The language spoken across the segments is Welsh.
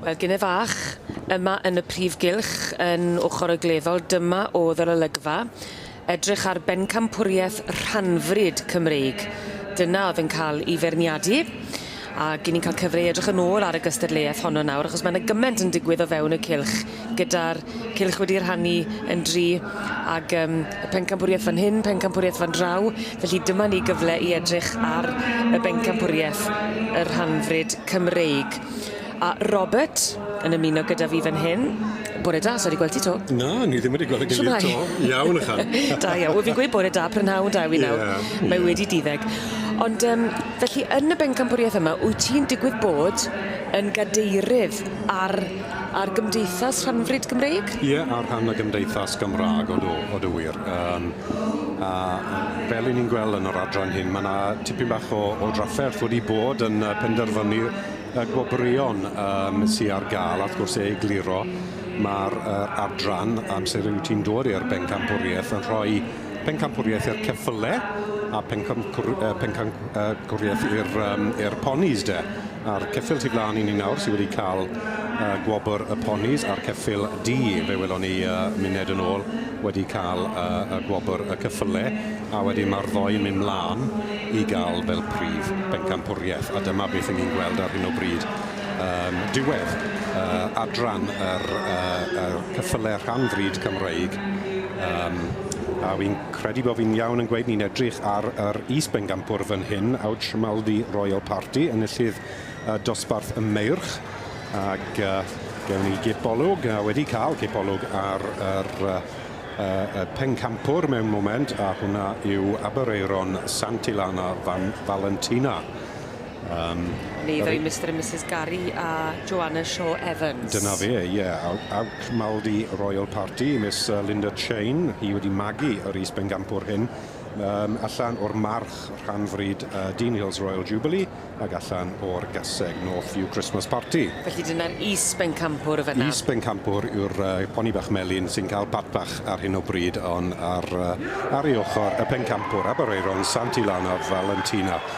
Wel, gine fach, yma yn y prif gylch, yn ochr y gleddol, dyma oedd yr olygfa. Edrych ar bencampwriaeth rhanfryd Cymreig. Dyna oedd yn cael ei feirniadu. Ac 'yn ni'n ca'l cyfle i edrych yn ôl ar y gystadleuaeth honno nawr achos ma' 'na gyment yn digwydd o fewn y cylch gyda'r cylch wedi rhannu yn dri ag yym y pencampwrieth fan hyn pencampwrieth fan draw felly dyma ni gyfle i edrych ar y bencampwrieth y rhanfrid Cymreig. A Robert yn ymuno gyda fi fan hyn. Bore da, sai 'di gwel ti 'to. Na, ni ddim wedi gwel ei gilydd 'to. Shwmai? Iawn ychan. Da iawn. Wel fi'n gweud bore da prynhawn da i wi nawr. Ie ie. Mae wedi diddeg. Ond yym Felly yn y bencampwriaeth yma, wyt ti'n digwydd bod yn gadeirydd ar ar Gymdeithas Rhanfrid Gymreig? Ie, ar rhan y Gymdeithas Gymraeg, odw, odw wir. Yym a fel 'yn ni'n gweld yn yr adran hyn, ma' 'na tipyn bach o o drafferth wedi bod yn yy penderfynu y gwobrwyon yym sy ar ga'l a wrth gwrs e egluro ma'r yy adran amser yw ti'n dod i'r bencampwriaeth yn rhoi Pencampwriaeth i'r ceffyle a pencampwriaeth i'r ponis de. A'r ceffyl tu flaen i ni nawr sydd wedi cael gwobr y ponis a'r ceffyl du, fe welon ni muned yn ôl, wedi cael gwobr y ceffyle a wedyn mae'r ddou yn mynd mlaen i gael fel prif bencampwriaeth a dyma beth 'y ni'n gweld ar hyn o bryd yn diwedd adran yr ceffyle rhan fryd Cymreig. Yym, a fi'n credu bo fi'n iawn yn gweud ni'n edrych ar yr is-bencampwr fan hyn, Aud Schmaldi Royal Party, enillydd y dosbarth y Meirch, ac yy gewn ni gipolwg, a wedi cael cipolwg ar yr yy yy y pencampwr mewn moment, a hwnna yw Aberaeron Sant Ilana Van Valentina. Yym. Ni ddwy Mister a Misys Gari a Joana Shaw Evans. Dyna fe ie aw- awc maldy royal party Miss yy Linda Cheyne hi wedi magu yr is bengampwr hyn yym allan o'r march rhan fryd yy Dean Hills Royal Jubilee ag allan o'r gaseg North View Christmas party. Felly dyna'r is bencampwr y fynna? Is bencampwr yw'r yy poni bach melyn sy'n ca'l pat bach ar hyn o bryd on' ar yy ar ei ochor y pencampwr Aberaeron Sant Ilanaf Valentina.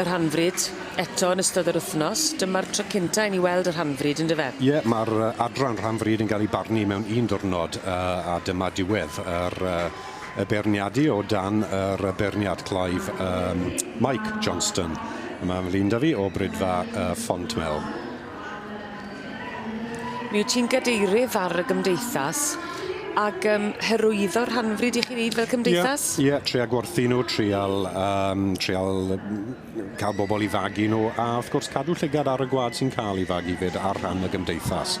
Y rhanfryd, eto yn ystod yr wythnos. Dyma'r tro cynta i ni weld y rhanfryd, yn dyfe? Ie, mae'r adran rhanfryd yn cael ei barnu mewn un diwrnod, a dyma diwedd yr y beirniadu o dan yr beirniad Clive yym Mike Johnston. Mae Lyn 'da fi o Brydfa y Fontmel. Mi wyt ti'n gadeirydd ar y gymdeithas ac um, hyrwyddo rhanfryd i chi wneud fel cymdeithas? Ie, yeah, yeah, tria gwerthu nhw, trial, um, trial cael bobl i fagu nhw, a wrth gwrs cadw llygad ar y gwad sy'n cael ei fagu fyd ar rhan y gymdeithas.